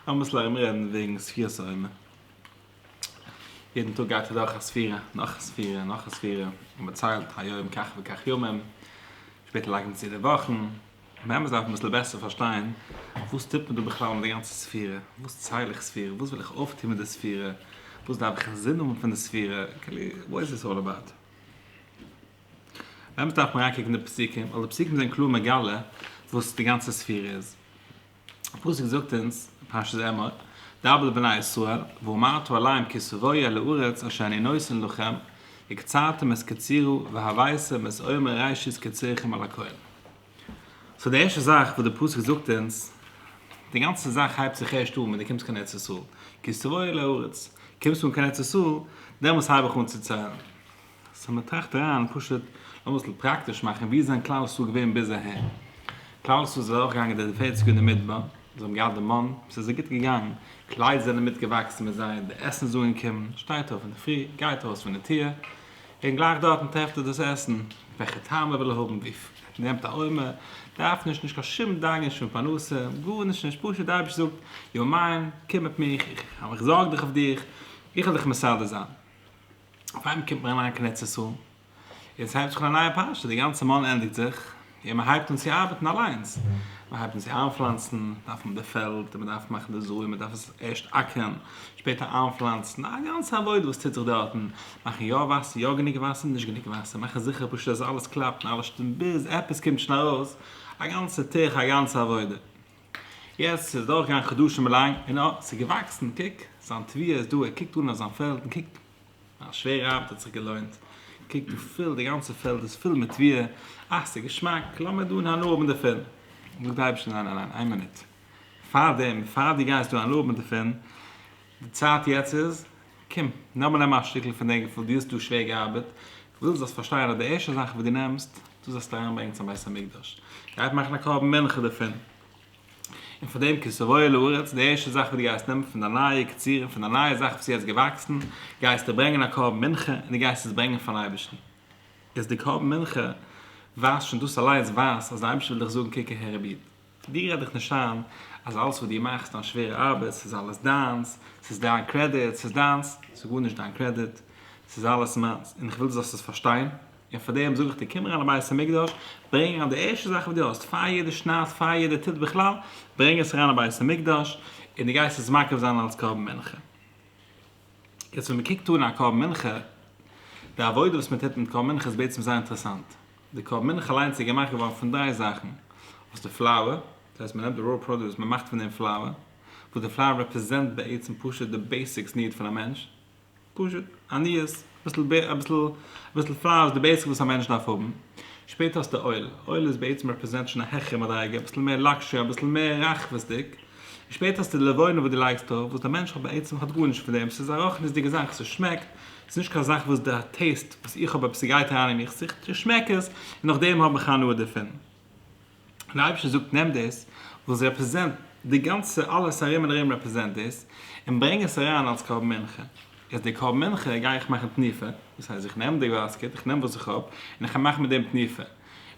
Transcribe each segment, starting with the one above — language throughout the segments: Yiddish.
לאמיס ארומרעדן וועגן ספירת העומר. יעדן טאג גייט אדורך א ספירה, נאך א ספירה, נאך א ספירה, און מען ציילט היום כך וכך ימים, שפעטער לייגט מען צו די וואכן. באמת דארף מען אביסל בעסער פארשטיין, וואס טוט מען דא בכלל מיט די גאנצע ספירה? וואס צייל איך ספירה? וואס וויל איך אויפטון מיט די ספירה? וואס דארף איך אינזין האבן פון די ספירה? כאילו, וואט איז דיס אלל אבאוט? באמת דארף מען אריינקוקן אין די פסוקים, ווייל די פסוקים זענען קלאר מגלה וואס די גאנצע ספירה איז. פסוק זאגט אונז, פרשת אמור, דבר לבני ישראל, ואמרת אליהם כי סבויה לארץ אשר אני נותן לכם, וקצרתם את קצירה, והוויתם את עומר ראשית קצירכם אל הכהן. סאו די ערשטע זאך וואס די פסוק זאגט אונז, די גאנצע זאך הייבט זיך הערשט אן ווען די קומסט קיין ארץ ישראל, כי סבויה לארץ, קומסט אן קיין ארץ ישראל, דעמאלטס הייב איך אן צו ציילן. סאו מען טראכט אריין פשוט לאמיר עס פראקטיש מאכן ווי איז דען כלל ישראל געווען ביז אהער? כלל ישראל איז ארויף געגאנגען די פערציג יאר אין די מדבר, זיי האבן געהאט די מן, עס איז זיי גוט געגאנגען, קליידער זענען מיט געוואקסן מיט זיי, די עסן איז אנגעקומען, שטייט אויף אינדערפרי, גייט ארויס פון די טיר, און גלייך דארטן טרעפט ער דאס עסן, וועלכע טעם ער וויל האבן, וויפיל, נעמט א עומר, דארף נישט, נישט קיין שום דאגה נישט פון פרנסה, גארנישט נישט, פשוט די אייבערשטער זאגט, יו מיין, קום מיט מיך, איך זארג דיך אויף דיך, איך וועל דיך מסדר זיין. אויף איינמאל קומט מען אריין קיין ארץ ישראל, און ס'הייבט זיך אן א נייע פרשה, די גאנצע מאל ענדיגט זיך, און מען הייבט אן צו ארבעטן אליינס, מען הייבט אן צו איינפלאנצן, דארף מען די פעלד, און מען דארף מאכן די זאאיען, מען דארף עס ערשט אקערן, שפעטער איינפלאנצן, א גאנצע עבודה וואס טוט זיך דארטן, מאכן יא וואסער, יא גענוג וואסער, נישט גענוג וואסער, מאכן זיכער פשוט אז אלעס קלאפט און אלעס שטימט ביז עפעס קומט שוין ארויס, א גאנצע טירחא, א גאנצע עבודה. יעצט איז דורך געגאנגען חדשים לאנג און אט ס'איז געוואקסן, קוק זיין תביעה איז דא, ער קוקט אן אויף זיין פעלד און קוק מיין שווערע ארבעט האט זיך געלוינט, קוק דא פול די גאנצע פעלד איז פול מיט תביעה, אה ס'איז געשמאק, לאמיר דא הנאה האבן דערפון, זאגט די אייבערשטער ניין ניין ניין איין מינוט, פארדעם פאר דו גייסט דא הנאה האבן דערפון, די צייט יעצט איז. קום, נאר מיר נעמען א שטיקל פון דעם געפיל, דו האסט דא שווער געארבעט, איך וויל דו זאלסט פארשטיין אז די ערשטע זאך וואס דו נעמסט, דו זאלסט אריינברענגען צום בית המקדש, גייט מאכן א קרבן מנחה דערפון, און פון דעם כסרויה לארץ, די ערשטע זאך וואס דו גייסט נעמען פון דיין נייע קצירה, פון דיין נייע זאך וואס איז יעצט געוואקסן, גייסטו ברענגען א קרבן מנחה, און דו גייסט עס ברענגען פארן אייבערשטן. איז די קרבן מנחה ווייזט שוין, דאס אליינס ווייזט אז די אייבערשטער וויל דיך זאגן קוק אהער רבי'ן, דיר רעד איך נישט איין אז אלעס וואס דו מאכסט דיין שווערע ארבעט ס'איז אלעס דיינס, ס'איז דיין קרעדיט, ס'איז דיינס, ס'איז גארנישט דיין קרעדיט, ס'איז אלעס מיינס, און איך וויל דו זאלסט עס פארשטיין, און פאר דעם זאג איך דיר קום אריין אין בית המקדש, ברענג אריין די ערשטע זאך וואס דו האסט, פאר יעדע שנת, פאר יעדע ט' בכלל, ברענג עס אריין אין בית המקדש, און דו גייסט עס מקריב זיין אלס קרבן מנחה. יעצט ווען מען קוקט אן א קרבן מנחה, די עבודה וואס מען טוט מיט קרבן מנחה איז בעצם זייער אינטערעסאנט, די קאווע מינך אליינס איז געמאכט געווארן פון דריי זאכן, אויס די פלאוער, דאס הייסט מ'נעמט די ראו פראדוס מ'מאכט פון דעם פלאוער, וואס די פלאוער רעפרעזענט בעצם פשוט די בעיסיקס ניד פון א מענטש, פשוט, עניות, אביסל בער, אביסל, אביסל פלאר איז די בעיסיק וואס א מענטש דארף האבן, שפעטער האסטו אויל, אויל איז בעצם רעפרעזענט שוין א העכערע מדריגה, אביסל מער לאקשערי, אביסל מער רחבות'דיג, און שפעטער האסטו די לבונה וואס דו לייגסט ארויף, וואס די מענטש האט בעצם האט גארנישט פון דעם, ס'איז א רוחניות'דיגע זאך, ס'שמעקט, ס'איז נישט קיין זאך וואס די טעיסט וואס איך האב עפעס ס'גייט אריין אין מיך ס'איז כ'שמעק עס און נאכדעם האב איך הנאה דערפון. און די אייבערשטער זאגט נעם דאס וואס עס רעפרעזענט די גאנצע אלעס ארום און ארום רעפרעזענט דאס און ברענג עס אריין אלס קרבן מנחה. איז די קרבן מנחה גיי איך מאכן תנופה, דאס הייסט איך נעם די באסקעט איך נעם וואס איך האב און איך גיי מאכן מיט דעם תנופה.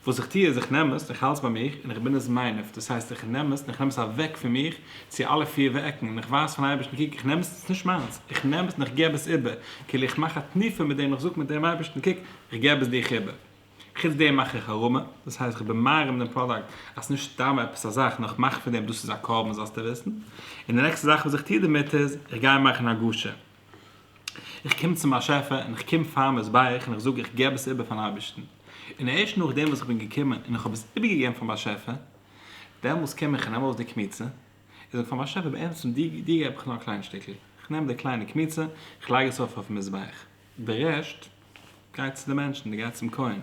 וואס איך טוה איז איך נעם עס און איך האלט עס ביי מיך און איך בין עס מיינעף, דאס הייסט איך נעם עס און איך נעם עס אוועק פון מיך צו אלע פיר וועקן און איך ווייז פארן אייבערשטן קוק איך נעם עס עס איז נישט מיינס, איך נעם עס און איך געב עס איבער, כאילו איך מאך א תנופה מיט דעם איך זאג מיט דעם אייבערשטן קוק איך געב עס דיך איבער. חוץ דעם מאך איך הרמה, דאס הייסט איך בין מרים דעם פראדאקט אז ס'נישט סתם עפעס א זאך נאר איך מאך פון דעם דאס איז א קרבן זאלסטו וויסן, און די נעקסטע זאך וואס איך טוה דערמיט איז איך גיי מאכן הגשה, איך קום צום באשעפער און איך קום פאר מזבח און איך זאג איך געב עס איבער פארן אייבערשטן, און ערשט נאכדעם וואס איך בין געקומען און איך האב עס איבערגעגעבן פארן באשעפער, דעמאלס קום איך און נעם ארויס די קמיצה, איך זאג פארן באשעפער בעצם דיר דיר געב איך נאר א קליין שטיקל, איך נעם די קליינע קמיצה, איך לייג עס ארויף אויפן מזבח, די רעשט גייט צו די מענטשן, גייט צום כהן,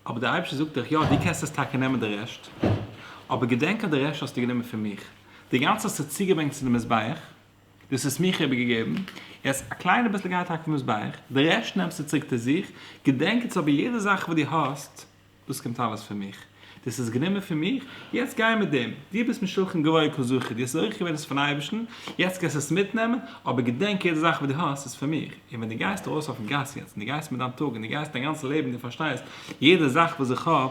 אבער דער אייבערשטער זאגט דאך יא דו קענסט עס טאקע נעמען די רעשט, אבער געדענק אז די רעשט האסטו גענומען פון מיך, די גאנצע האסטו צוגעברענגט צו די מזבח, דאס האסט מיך איבערגעגעבן, יעצט א קליינע ביסל גיי טאקע פון וואס ביי איך, די רעשט נעמסטו צוריק צו זיך, געדענק יעצט אבער יעדע זאך וואס דו האסט, דאס קומט אלעס פון מיך, דו האסט עס גענומען פון מיך, יעצט גיי מיט דעם, דו ביסט משולחן גבוה כל זכות, דו האסט עס אויך געווען עס פון אייבערשטן, יעצט קענסטו עס מיטנעמען, אבער געדענק יעדע זאך וואס דו האסט איז פון מיך, און ווען דו גייסט ארויס אויפן גאס יעצט און דו גייסט מיט דיין טאג און דו גייסט דיין גאנצע לעבן און דו פארשטייסט יעדע זאך וואס איך האב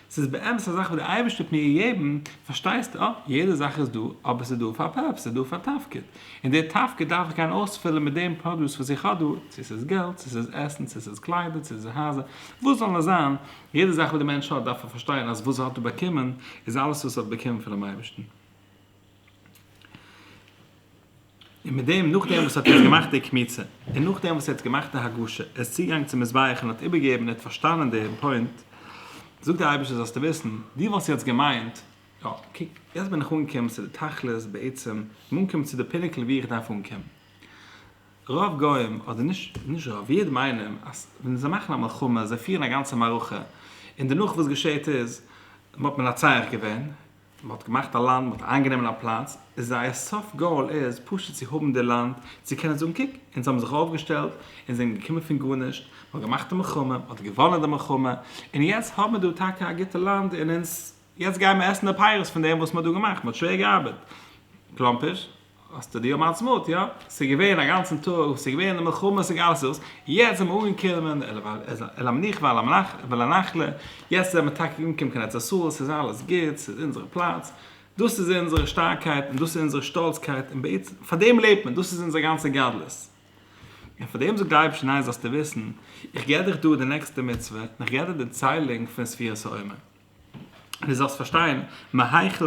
ס'איז באמת א זאך וואס דער אייבערשטער האט מיר געגעבן, פארשטייסטו? אה, יעדע זאך איז דא, אבער ס'איז דא פאר א פערפס, ס'איז דא פאר א תפקיד, און דער תפקיד דארף איך גיין אויספילן מיט דעם פראדוס וואס איך האב דא, צו ס'איז געלט, צו ס'איז עסן, צו ס'איז קליידער, צו ס'איז הייזער, וואס זאל נאר זיין, יעדע זאך וואס דער מענטש האט דארף ער פארשטיין אז וואס ער האט דא באקומען איז אלעס וואס ער האט באקומען פונעם אייבערשטן. און מיט דעם, נאך דעם וואס ער האט יעצט געמאכט די קמיצה, און נאך דעם וואס ער האט געמאכט די הגשה, ער איז צוגעגאנגען צום מזבח און האט איבערגעגעבן, ער האט פארשטאנען דעם פוינט, זאגט דער אייבערשטער זאלסטו וויסן, דו וואלסט יעצט געמיינט, יא, קוק, יעצט בין איך אנגעקומען צו די תכלית, בעצם, איך בין אנגעקומען צו די פינעקל וואו איך דארף אנקומען. רוב גוים, אדער נישט, נישט רוב, איד מיינען אז ווען זיי מאכן א מלחמה, זיי פירן א גאנצע מערכה, און דערנאך וואס געשעהט איז, האט מען נצח געווען, מען האט געמאכט א לאנד, מען האט איינגענומען א פלאץ, זייער סוף גאול איז פשוט צו האבן די לאנד, צו קענען זאגן קוק, אונז האבן זיך אויפגעשטעלט, אונז זענען געקומען פון גארנישט, מען האט געמאכט די מלחמה, מען האט געוואנען די מלחמה, און יעצט האבן מיר דא טאקע א גוטע לאנד, און אונז יעצט גייען מיר עסן די פירות פון דעם וואס מען האט דא געמאכט, מען האט שווער געארבעט, קלאמפיש. האסטו די יום העצמאות יא? ס'איז געווען א גאנצן טאג וואס ס'איז געווען די מלחמות און אלעס דאס, יעצט זעמער אנגעקומען אל המנוחה ואל הנחלה, יעצט זעמער טאקע אנגעקומען קיין ארץ ישראל, ס'איז אלעס גוט, ס'איז אונזערע פלאץ, דאס איז אונזערע שטארקייט און דאס איז אונזערע שטאלצקייט און בעצם פאר דעם לעבט מען, דאס איז אונזער גאנצע גדלות. און פאר דעם זאגט דער אייבערשטער ניין זאלסטו וויסן, איך געב דיך דא די נעקסטע מצוה, און איך געב דיר די ציילונג פון ספירת העומר. דו זאלסט פארשטיין, מהיכן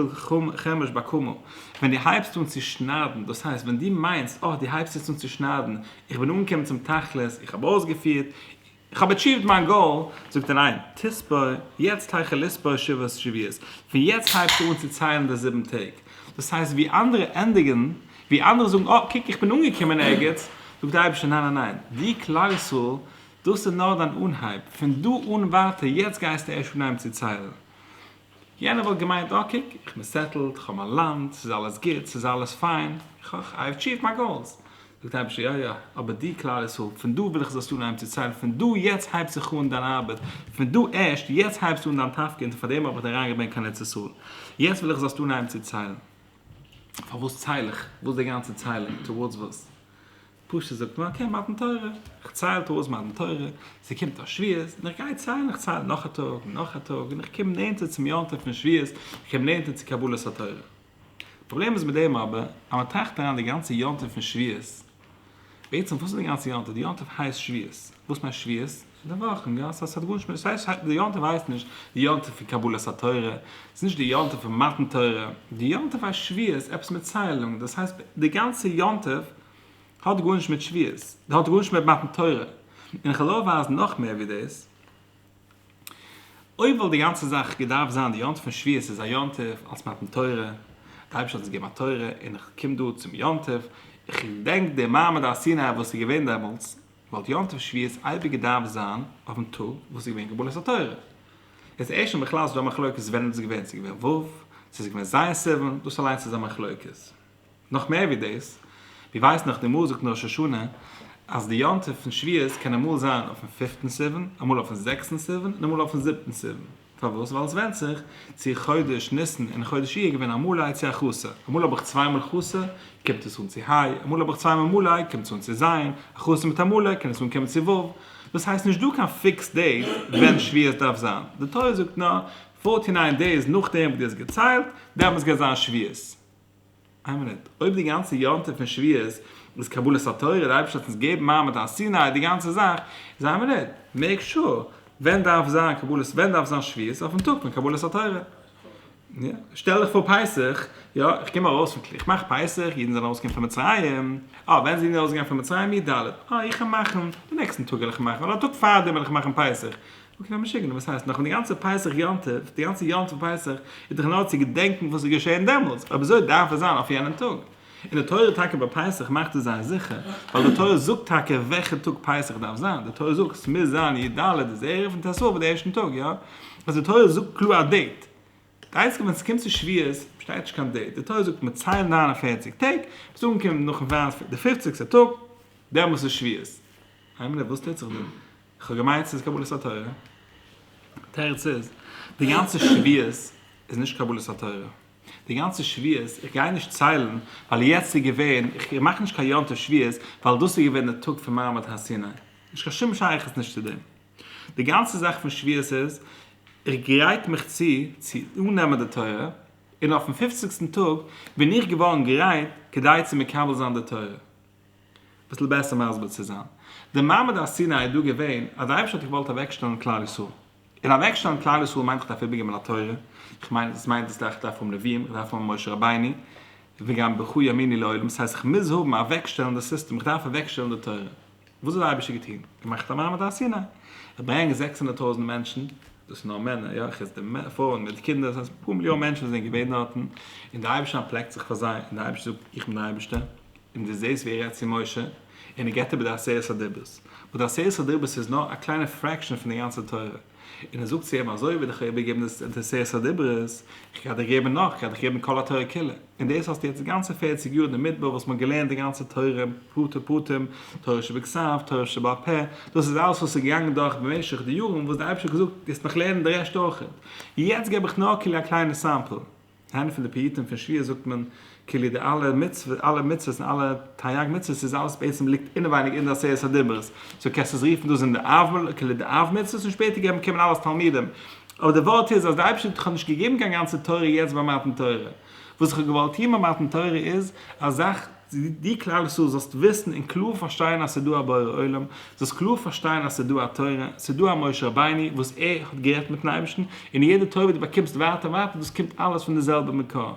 חומש באקומו, ווען דו הייבסט אן צו שניידן, דאס הייסט ווען דו מיינסט, אה, דו הייבסט יעצט אן צו שניידן, איך בין אנגעקומען צום תכלית, איך האב אויסגעפירט, איך האב עטשיווד מיין גאול, זאגט ער ניין, תספור, יעצט היכן לספור שבעת שבועות, פון יעצט הייבסטו אן צו ציילן די זיבן טעג, דאס הייסט ווי אנדערע ענדיגן, ווי אנדערע זאגן, אה, קוק איך בין אנגעקומען ערגעץ, זאגט דער אייבערשטער, ניין ניין ניין, דו כלל ישראל, דאס איז נאר דיין אנהייב, פון דא אן ווייטער יעצט גייסטו ערשט אנהייבן צו ציילן. יענער וואלט געמיינט אה קוק, איך בין סעטלד, איך האב מיין לאנד, ס'איז אלעס גוט, ס'איז אלעס פיין, איך האב אטשיווט מיין גאולס. זאגט דער אייבערשטער, יא יא, אבער דו כלל ישראל, פון דא וויל איך זאלסטו אנהייבן צו ציילן, פון דא יעצט הייבט זיך אן דיין ארבעט, פון דא ערשט יעצט הייבסטו אן דיין תפקיד, און פארדעם האב איך דיר אריינגעברענגט קיין ארץ ישראל. יעצט וויל איך זאלסטו אנהייבן צו ציילן. פארוואס צייל איך? וואס די גאנצע ציילן? טאווארדס וואס? פשוט זאגט מען אקעי מתן תורה, איך צייל טובות מתן תורה, ס'קומט א שביעות, און איך גיי ציילן, איך צייל נאך א טאג, און נאך א טאג, און איך קום נענטער צום יום טוב פון שביעות, איך קום נענטער צו קבלת התורה. פראבלעם איז מיט דעם אבער, אז מען טראכט אריין די גאנצע יום טוב פון שביעות, בעצם וואס איז די גאנצע יום טוב? די יום טוב הייסט שביעות, וואס מיינט שביעות? די וואך אין גאס אז עס האט גארנישט מיט די סייט, די יום טוב הייסט נישט די יום טוב פון קבלת התורה, עס איז נישט די יום טוב פון מתן תורה, די יום טוב הייסט שביעות, עפעס מיט ציילונג, דאס הייסט די גאנצע יום טוב האט גארנישט מיט שביעות, האט גארנישט מיט מתן תורה, און איך וועל אויך ווייזן נאך מער ווי דאס, אויב וואלט די גאנצע זאך געדארפט זיין די יום טוב פון שביעות איז א יום טוב אלס מתן תורה, די אייבערשטער האט אונז געגעבן א תורה און איך קום דא צום יום טוב, איך געדענק די מעמד הר סיני וואס איז געווען דעמאלטס. וואלט יום טוב שביעית אייביג געדארפט זיין אויפן טאג וואס איז געווען קבלת התורה. עס איז ערשט בכלל נישט דא א מחלוקת ווען איז עס געווען, עס איז געווען ו', עס איז געווען ז' סיוון, דאס אליינס איז א מחלוקת. נאך מער ווי דאס, ווי ווייסט נאך די מוזיק אין ראש השנה אז די יום טוב פון שביעית קען אמאל זיין אויפן פופטן סיוון, אמאל אויפן זעקסטן סיוון און אמאל אויפן זיבטן סיוון. פארוואס? ווייל עס ווענדט זיך צו חודש ניסן און חודש אייר געווען א מלאי צו א חסר. אמאל האב איך צוויי מאל חסר, קומט עס אן צו ה', אמאל האב איך צוויי מאל מלאי, קומט עס אן צו ז', א חסר מיט א מלאי קען עס אנקומען צו ו'. דאס הייסט נישט דא קיין פיקס דעיט ווען שביעות דארף זיין, די תורה זאגט נאר פארטי ניין דעיס נאכדעם וואס דו האסט געציילט, דעמאלטס גייט זיין שביעות. איין מינוט, אויב די גאנצע יום טוב פון שבועות איז קבלת התורה, דער אייבערשטער האט אונז געגעבן מעמד הר סיני, די גאנצע זאך, איז איין מינוט, מעיק שור, ווען דארף זיין קבלת, ווען דארף זיין שבועות? אויפן טאג פון קבלת התורה. יא, שטעל דיך פאר פסח, יא, איך קום ארויס פון קליפ, איך מאך פסח, אידן זענען ארויסגעגאנגען פון מצרים, אה, ווען זענען אידן ארויסגעגאנגען פון מצרים? י ד, אה, איך וועל מאכן, די נעקסטן טאג וועל איך מאכן, אדער א טאג פארדעם וועל איך מאכן פסח, אקעי משוגענער, וואס הייסט? נאך ווען די גאנצע פסח יום טוב, די גאנצע יום טוב פסח איז דאך נאר צו געדענקן וואס איז געשען דעמאלטס, אויב אזוי דארף עס זיין אויף יענעם טאג. און די תורה טאקע ביי פסח מאכט עס זיין זיכער, ווייל די תורה זאגט טאקע וועלכע טאג פסח דארף זיין, די תורה זאגט עס מוז זיין י ד איז ערב און ט ו איז די ערשטן טאג, יא? אז די תורה זאגט קלאר א דעיט, די איינציגע ווען עס קומט צו שבועות שטייט נישט קיין דעיט, די תורה זאגט מען ציילט נײַן און פֿערציק טעג, ביז אנקומען נאכן וויינספעלד די פופציגסטע טאג, דעמאלטס איז שבועות. היימענע וואס טוט זיך דא? כ'האב געמיינט ס'איז קבלת התורה. תירוץ איז, די גאנצע שביעות איז נישט קבלת התורה. די גאנצע שביעות, איך גיי נישט ציילן, ווייל יעצט איז געווען, איך מאך נישט קיין יום טוב שביעות, ווייל דאס איז געווען די טאג פון מעמד הר סיני. נישט קיין שום שייכות נישט צו דעם. די גאנצע זאך פון שביעות איז, איך גרייט מיך צו, צו אננעמען די תורה, און אויפן פופציגסטן טאג, בין איך געווארן גרייט, כדי צו מקבל זיין די תורה. ביסל בעסער מסביר צו זיין. די מעמד הר סיני איז דא געווען אז די אייבערשטער האט געוואלט אוועקשטעלן כלל ישראל. און אוועקשטעלן כלל ישראל מיינט איך דארף איבערגעבן א תורה, איך מיין אז עס מיינט דאס גלייך איך דארף האבן נביאים, איך דארף האבן משה רבינו, וגם ברכו ימיני לעולם, ס'הייסט איך מוז האבן אוועקשטעלן די סיסטעם, איך דארף אוועקשטעלן די תורה. וואס האט די אייבערשטער געטון? געמאכט א מעמד הר סיני. איך ברענג זעקס הונדערט טויזנט מענטשן, דאס איז נאר מענער, יא, חוץ די פרויען מיט די קינדער, דאס הייסט אפאר מיליאן מענטשן זענען געווען דארטן, און די אייבערשטער אנטפלעקט זיך פאר זיי, און די אייבערשטער זאגט, איך בין די אייבערשטער, און דו זעסט ווי ער רעדט צו משה, און ער געבט איבער די עשרת הדיברות, וואס די עשרת הדיברות איז נאר א קליינע פרעקשאן פון די גאנצע תורה, און ער זאגט צו אים, אזוי ווי דיך האב איך געגעבן די עשרת הדיברות, איך גיי דיך געבן נאך, איך גיי דיך געבן כל התורה כולה, און דאס האסטו יעצט די גאנצע פֿערציק יאר אין די מדבר וואס מ'האט געלערנט די גאנצע תורה פרטי פרטים, תורה שבכסף, תורה שבעל פה, דאס איז אלעס וואס איז געגאנגען דורך במשך די יארן וואס די אייבערשטער האט געזאגט, וועסט נאך לערנען די רעשט אויכעט, יעצט געב איך נאר כאילו א קליינע סעמפל. אין איינע פון די פיוטים פון שביעית זאגט מען כאילו די אלע מצוות אלע מצוות און אלע תריג מצוות איז אלעס בעצם ליגט אינעווייניג אין די עשרת הדיברות סאו קענסט עס רופן דאס זענען די אב כאילו די אב מצוות און שפעטער געבן קומען אלעס תלמידים אבער די ווארט איז אז די אייבערשטער האט דיך נישט געגעבן קיין גאנצע תורה יעצט ביי מתן תורה וואס איך האב געוואלט טון ביי מתן תורה איז א זאך דו כלל ישראל זאלסט וויסן און קלאר פארשטיין אז ס'איז דא א בורא עולם, זאלסט קלאר פארשטיין אז ס'איז דא א תורה, ס'איז דא א משה רבינו וואס ער האט גערעדט מיטן אייבערשטן, און יעדע תורה וואס דו באקומסט ווייטער און ווייטער דאס קומט אלעס פון די זעלבע מקור.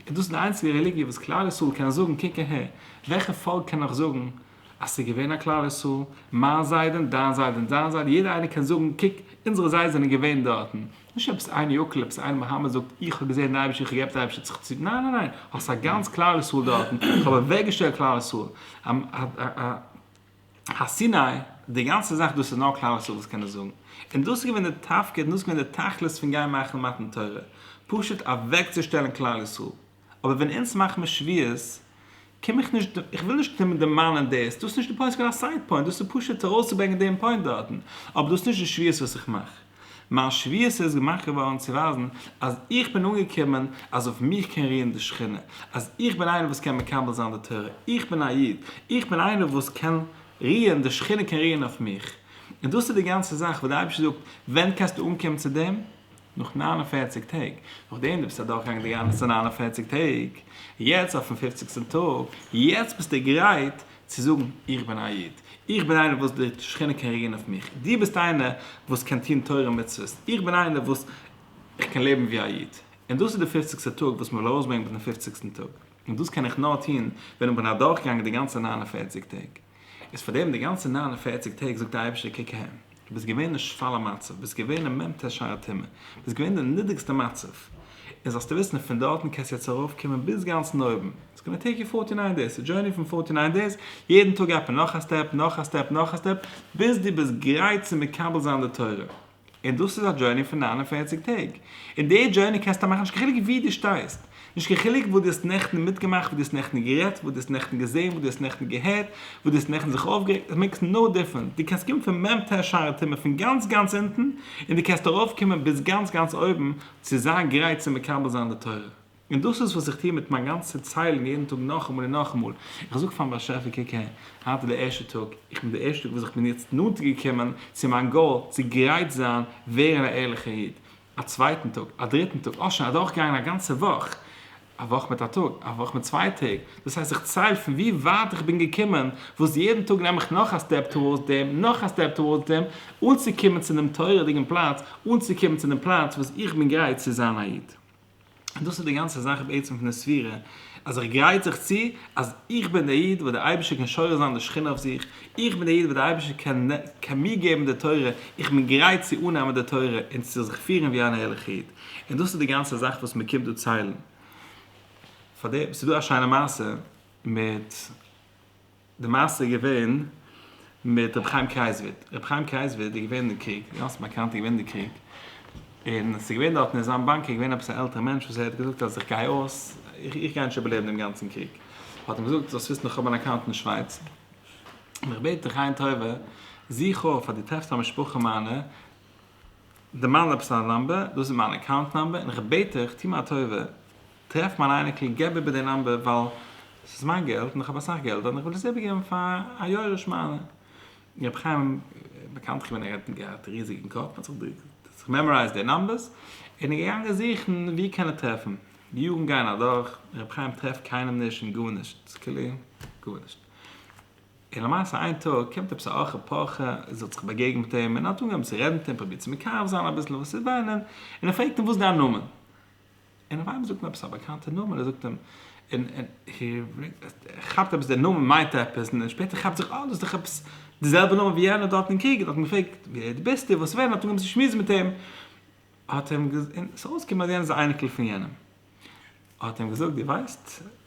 איז דאס די איינציגע רעליגיע וואס כלל ישראל קען זאגן קוק אהער, וועלכע פאלק קען נאך זאגן אז ס'איז געווען א כלל ישראל, מיין זיידען, דיין זיידען, זיין זיידע, יעדער איינער קען זאגן קוק אונזערע זיידעס זענען געווען דארטן, נישט עפעס איין יוקל עפעס איין מוהאמאד זאגט איך האב געזען די אייבישטער איך האב געהעפט די אייבישטער האט זיך צו ניין ניין ניין האסט א גאנץ כלל ישראל דארטן איך האב אוועקגעשטעלט כלל ישראל הר סיני די גאנצע זאך דאס איז נאר כלל ישראל וואס קען עס זאגן און דאס איז געווען די תפקיד און דאס איז געווען די תכלית פון גיין מאכן מתן תורה פשוט אוועקצושטעלן כלל ישראל. אבער ווען אונז מאכט מען שוויות קום איך נישט איך וויל נישט קומען דערמאנען דאס דאס איז נישט די פוינט ס'געווען א סייד פוינט דאס איז פשוט ארויסצוברענגען דעם פוינט דארטן אבער דאס איז נישט די שוויות וואס איך מאך מיין שוויות איז געמאכט געווארן צו ווייזן אז איך בין אנגעקומען אז אויף מיך קען רוען די שכינה אז איך בין איינער וואס קען מקבל זיין די תורה איך בין א איד איך בין איינער וואס קען רוען די שכינה קען רוען אויף מיך און דאס איז די גאנצע זאך וואס די אייבערשטער זאגט ווען קענסטו אנקומען צו דעם נאך נײַן און פֿערציק טעג, נאכדעם דו ביסט אדורכגעגאנגען די גאנצע נײַן און פֿערציק טעג, יעצט אויפן פופציגסטן טאג, יעצט ביסטו גרייט צו זאגן, איך בין א איד, איך בין איינער וואס די שכינה קען רעגירן אויף מיך, דו ביסט איינער וואס קען טון תורה ומצוות, איך בין איינער וואס איך קען לעבן ווי א איד, און דאס איז די פופציגסטע טאג וואס מען וויל ארויסברענגען מיטן פופציגסטן טאג, און דאס קען איך נאר טון ווען איך בין אדורכגעגאנגען די גאנצע נײַן און פֿערציק טעג. איז פאר דעם די גאנצע נײַן און פֿערציק טעג זאגט די אייבערשטער קוק אהן, דו ביסט געווען אין שפל המצב, ביסט געווען אין מ ט שער הטומאה, ביסט געווען די נידריגסטע מצב, און זאלסטו וויסן אז פון דארטן קענסטו יעצט ארויף קומען ביז גאנץ אין אויבן, איטס גאנא טעיק יו פֿארטי נײַן דעיס, א דזשורני פון פֿארטי נײַן דעיס, יעדן טאג עפען נאך א סטעפ, נאך א סטעפ, נאך א סטעפ, ביז דו ביסט גרייט צו מקבל זיין די תורה. און דאס איז א דזשורני פון נײַן און פֿערציק טעג, און די דזשורני קענסטו מאכן נישט קיין חילוק וואו דו שטייסט, נישט קיין חילוק וואס דו האסט נעכטן מיטגעמאכט, וואס דו האסט נעכטן גערעדט, וואס דו האסט נעכטן געזען, וואס דו האסט נעכטן געהערט, וואס דו האסט נעכטן זיך אויפגערעגט, עס מעיקס נאו דיפרענס, דו קענסט קומען פון מ ט שערי טומאה פון גאנץ גאנץ אונטן, און דו קענסט ארויפקומען ביז גאנץ גאנץ אויבן צו זיין גרייט צו מקבל זיין די תורה. און דאס איז וואס איך טוה מיט מיין גאנצע ציילונג יעדן טאג נאכאמאל און נאכאמאל, איך זאג פארן באשעפער קוק אהער, היינט איז דער ערשטער טאג, איך בין דער ערשטער טאג וואס איך בין יעצט נאנטער געקומען צו מיין גאול, צו גרייט זיין ווערן א ערליכער איד, א צווייטן טאג, א דריטן טאג, אויך שוין אדורכגעגאנגען א גאנצע וואך, א וואך מיט א טאג, א וואך מיט צוויי טעג, דאס הייסט איך צייל פון ווי ווייט איך בין געקומען, וואס יעדן טאג נעם איך נאך א סטעפ טאווארדס דעם, נאך א סטעפ טאווארדס דעם, אנצוקומען צו דעם תורה'דיגן פלאץ, אנצוקומען צו דעם פלאץ וואס איך בין גרייט צו זיין א איד. און דאס איז די גאנצע זאך בעצם פון די ספירה, אז איך גרייט זיך צו אז איך בין דער איד וואס דער אייבערשטער קען שורש זיין די שכינה אויף זיך, איך בין דער איד וואס דער אייבערשטער קען קען מיר געבן די תורה, איך בין גרייט צו אננעמען די תורה און צו זיך פירן ווי אן ערליכע איד, און דאס איז די גאנצע זאך וואס מען קומט דא ציילן. פאר דעם, ס'איז דא א שיינע מעשה מיט. די מעשה איז געווען מיט רבי חיים קרייזוויד, רבי חיים קרייזוויד איז געווען אין קריג, גאנץ באקאנט איז געווען אין די קריג, און עס איז געווען דארטן אין זיין באנק איז געווען עפעס א עלטערע מענטש וואס ער האט געזאגט אז איך גיי אויס, איך גיי נישט איבערלעבן דעם גאנצן קריג, האט אים געזאגט זאלסט וויסן איך האב אן אקאונט אין שווייץ, און איך בעט דיך עין טובה, זוך אויף אז דו טרעפסט א משפחה מיינע, דערמאן עפעס א נומבער, דאס איז מיין אקאונט נומבער, און איך בעט דיך טוה מיר א טובה, טרעף מיין אייניקל געב איבער די נאמבער ווייל עס איז מיין געלט און איך האב אסאך געלט און איך וויל עס איבער געבן פאר א יורש מיינע. רבי חיים איז באקאנט געווען ער האט געהאט ריזיגן קאפ האט זיך מעמארייזט די נאמבערס און איז געגאנגען זוכן ווי קען ער טרעפן. די יארן גייען אדורך רבי חיים טרעפט קיינעם נישט און גארנישט עס איז כאילו גארנישט און למעשה איין טאג קומט עפעס א אוכל פרחה זאל זיך באגעגען מיט אים און האט אנגעהויבן צו רעדן מיט אים פרובירט צו מקרב זיין אביסל וואס איז דיין נ. און ער פרעגט אים וואס איז דיין נאמען. און אויף איינמאל זאגט אים עפעס א באקאנטע נאמען, ער זאגט אים, און ער כאפט עפעס דער נאמען מיינט עפעס, און שפעטער כאפט זיך אה דאס איז דאך עפעס די זעלבע נאמען ווי יענער דארט אין קריג, און האט אים געפרעגט ווער די ביסטו, וואס ווען, האט אנגעהויבן צו שמועסן מיט אים, האט אים, און ס'איז אויסגעקומען אז יענער איז א אייניקל פון יענעם, האט אים געזאגט דו ווייסט.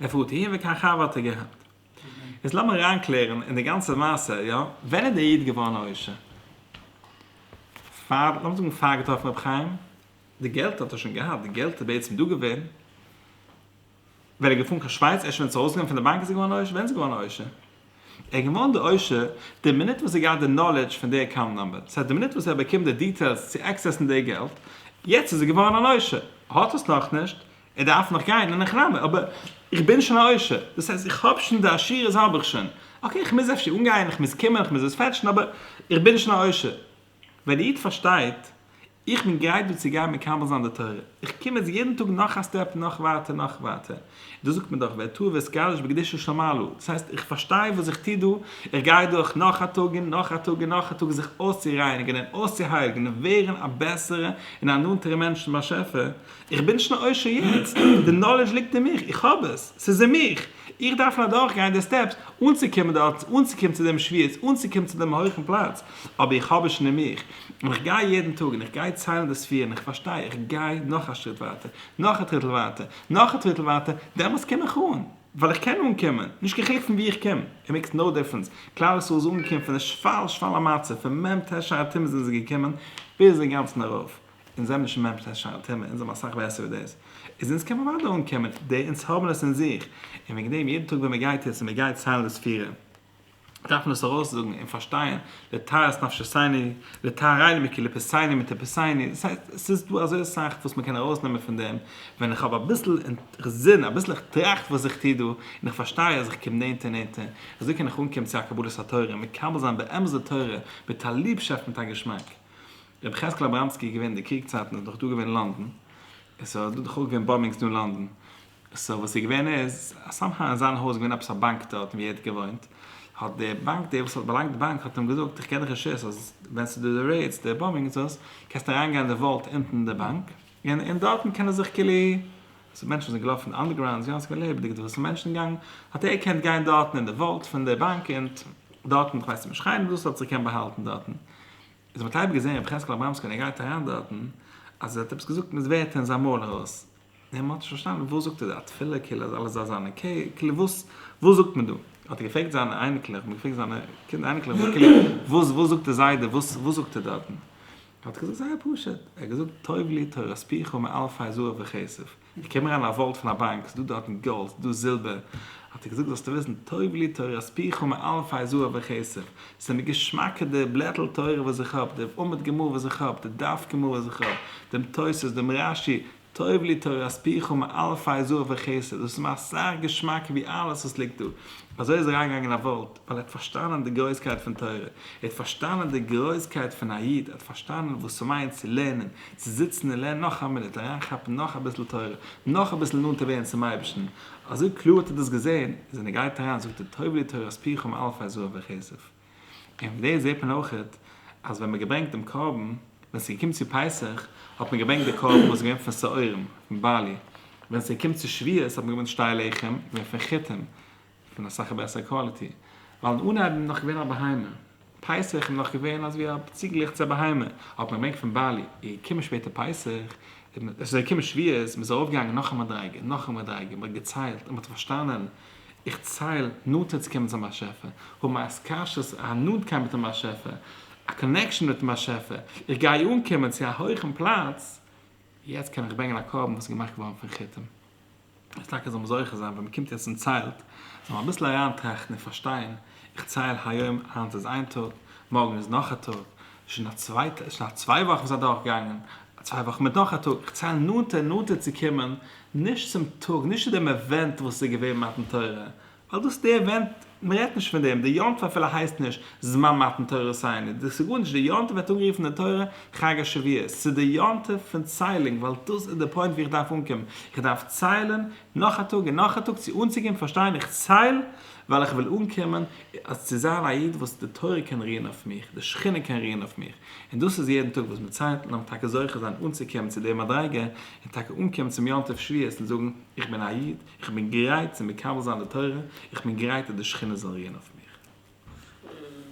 ער פארט אהין ווי קיין חבר האט ער געהאט. יעצט לאמיר אריין קלערן אין די גאנצע מעשה, יא? ווען איז דער איד געווארן א עושר? פאר, לאמיר זאגן פאר געטראפן רבי חיים? די געלט האט ער שוין געהאט, די געלט איז בעצם דא געווען ווען ער איז געפארן קיין שווייץ, ער איז שוין ווען עס איז ארויס געגאנגען פון די באנק איז ער געווארן א עושר, ווען איז ער געווארן א עושר? ער איז געווארן דער עושר די מינוט וואס ער האט געהאט די נאלעדזש פון די אקאונט נומבער, דאס הייסט די מינוט וואס ער האט באקומען די דיטעילס צו עקסעסן די געלט, יעצט איז ער געווארן אן עושר, האט עס נאכנישט, ער דארף נאך גיין אין החרמה, אבער איך בין שוין א עושר, דאס הייסט איך האב שוין די עשירות האב איך שוין, אקעי איך מוז אפשר אנגיין, איך מוז קומען, איך מוז עס פעטשן, אבער איך בין שוין א עושר. ווען א איד פארשטייט, איך בין גרייט דא צו גיין מקבל זיין די תורה, איך קום יעצט יעדן טאג נאך א סטעפ נאך ווייטער נאך ווייטער, דאס זאגט מען דאך ואת טוה ואת קדש בקדושה של מעלה, דאס הייסט איך פארשטיי וואס איך טו דא, איך גיי דורך נאך א טאג און נאך א טאג און נאך א טאג זיך אויסצורייניגען און אויסצוהייליגען און ווערן א בעסערע און א נאנטערע מענטש צום באשעפער, איך בין נישט קיין עושר יעצט, די נאלעדזש ליגט אין מיך, איך האב עס, ס'איז אין מיך, איך דארף נאר אדורכגיין די סטעפס אנצוקומען דארט, אנצוקומען צו דעם שפיץ, אנצוקומען צו דעם הויכן פלאץ, אבער איך האב עס שוין אין מיך, און איך גיי יעדן טאג און איך גיי ציילן די ספירן, איך פארשטיי, איך גיי נאך א שריט ווייטער, נאך א טריטל ווייטער, נאך א טריטל ווייטער, דעמאלטס קום איך אן, ווייל איך קען אנקומען, נישט קיין חילוק פון וואו איך קום, ער מעקס נאו דיפרענס, כלל ישראל איז אנגעקומען פון די שפל שפל המצב, פון מ ט תשע א תמוז זענען זיי געקומען ביז אינגאנצן ארויף, אונז זעמיר נישט ממש נישט שיין טעמע אונז זעמיר אסאך בעסער ווי דאס איז אונז קען מען אוודאי אנקומען צו דעם אונז האבן עס אין זיך און וועגן דעם יעדן טאג ווען מען גייט עס און מען גייט סיין דאס פירער דארף מען עס ארויס זאגן און פארשטייען לטהרת נפשיסייני לטהרייני מקליפתיני מטעפיסייני דאס הייסט עס איז דא אזוי אסאך וואס מען קען ארויס נעמען פון דעם ווען איך האב אביסל אינטערסין אביסל איך טראכט וואס איך טוה דא און איך פארשטיי אז איך קום נענטער נענטער אזוי קען איך אנקומען צו א קבלת התורה און מקבל זיין באמת די תורה מיט א ליבשאפט מיט א געשמאק. רבי יחזקאל אבראמסקי איז געווען די קריג צייטן איז דאך דא געווען לאנדאן סאו איז דא דאך אויך געווען באמבינגס דא אין לאנדאן סאו וואס איז געווען איז אז סאם האו אין זיין הויז איז געווען עפעס א באנק דארטן ווי ער האט געוואוינט האט די באנק די וואס האט באלאנגט די באנק האט אים געזאגט איך געב דיך רשות אז ווען ס'איז דא די רעידס די באמבינגס דאס קענסטו אריין גיין אין די וואלד אונטן אין די באנק און און דארטן קען ער זיך כאילו ס'איז מענטשן וואס זענען געלאפן אנדערגראונד יא ס'איז געווען לעבעדיג דא ס'איז מענטשן געגאנגען האט ער געקענט גיין דארטן אין די וואלד פון די באנק און דארטן כ'ווייס נישט איך האב אים געזאגט ס'זאל זיך קענען באהאלטן דארטן. איז מען האט אייביג געזען רבי יחזקאל אברמסקי ווען ער גייט אריין דארטן אז ער האט עפעס געזאגט מיט ווערטער אין זיין מויל ארויס און מען האט נישט פארשטאנען וואס זאגט ער דא א תפילה כאילו אז אלעס זאל זיין אקעי כאילו וואס וואס זאגט מען דא האט ער געפרעגט זיינע אייניקלעך האבן געפרעגט זיינע קינדער אייניקלעך כאילו וואס וואס זאגט די זיידע וואס וואס זאגט ער דארטן האט ער געזאגט זייער פשוט ער האט געזאגט טוב לי תורת פיך מאלפי זהב וכסף איך קום אריין אין א וואלד פון א באנק, ס'איז דא דארטן גאלד, ס'איז דא זילבער, האט ער געזאגט זאלסטו וויסן, טוב לי תורת פיך מאלפי זהב וכסף, ס'איז מיר געשמאקער די בלעטל תורה וואס איך האב, די עמוד גמרא וואס איך האב, די דף גמרא וואס איך האב, דעם תוס', דעם רש י, טוב לי תורת פיך מאלפי זהב וכסף, דאס איז מיר אסאך געשמאקער ווי אלעס וואס ליגט דא, אזוי איז ער אריינגעגאנגען אין א וואלד. ווייל ער האט פארשטאנען די גרויסקייט פון תורה, ער האט פארשטאנען די גרויסקייט פון א איד, ער האט פארשטאנען וואס ס'מיינט צו לערנען, צו זיצן און לערנען נאך א מינוט, אריינכאפן נאך אביסל תורה, נאך אביסל נאנטער ווערן צום אייבערשטן, אזוי קלאר האט ער דאס געזען, אז ווען ער גייט אריין זאגט ער טוב לי תורת פיך ם אלפי זהב וכסף. און פון דעם זעט מען אויכעט, אז ווען מ'האט געברענגט דעם קרבן, ווען ס'איז געקומען צו פסח, האט מען געברענגט די קרבן וואס איז געווען פון שעורים, פון בארלי, ווען ס'איז געקומען צו שבועות האט מען געברענגט שתי לחם, געווען פון חיטים, פון אסאך בעסער קוואליטי, ווייל אין אנהייב בין נאך געווען א בהמה, פסח איז נאך געווען אזווי א ציגעלעך צו א בהמה, האט מען געברענגט פון בעלי, איז געקומען שפעטער פסח, און עס איז געקומען שבועות, מען איז ארויף געגאנגען נאך א מדריגה און נאך א מדריגה, מען האט געציילט און מען האט פארשטאנען, איך צייל נאנטער צו קומען צום באשעפער, האבן א התקשרות, א נאנטקייט מיטן באשעפער, א קאנעקשאן מיטן באשעפער, איך גיי אנקומען צו א הויכן פלאץ, יעצט קען איך ברענגען א קרבן וואס איז געמאכט געווארן פון כיתים. אז טאקע זאל מען זוכה זיין ווען מען קומט יעצט און ציילט, זאל מען אביסל אריינטראכטן און פארשטיין, איך צייל היום, היינט איז איין טאג, מארגן איז נאך א טאג, שוין א צוויי וואכן איז אדורכגעגאנגען, צוויי וואכן מיט נאך א טאג, איך צייל נאנטער און נאנטער צו קומען, נישט צום טאג, נישט צו דעם עווענט וואס איז געווען מתן תורה, ווייל דאס די עווענט, מען רעדט נישט פון דעם, די יום טוב אפילו הייסט נישט זמן מתן תורה סיני, דאס איז גארנישט, די יום טוב ווערט אנגערופן אין תורה חג השבועות, ס'איז די יום טוב פון ציילונג, ווייל דאס איז די פוינט ווי איך דארף אנקומען, איך דארף ציילן נאך א טאג און נאך א טאג צו אנצוקומען פארשטיין, איך צייל ווייל איך וויל אנקומען אז צו זיין א איד וואס די תורה קען רוען אויף מיך, די שכינה קען רוען אויף מיך, און דאס איז יעדן טאג וואס מען ציילט, לאמיר טאקע זוכה זיין אנצוקומען צו די מדריגה, און טאקע אנקומען צום יום טוב שבועות און זאגן איך בין א איד, איך בין גרייט צו מקבל זיין די תורה, איך בין גרייט אז די שכינה זאל רוען אויף מיך.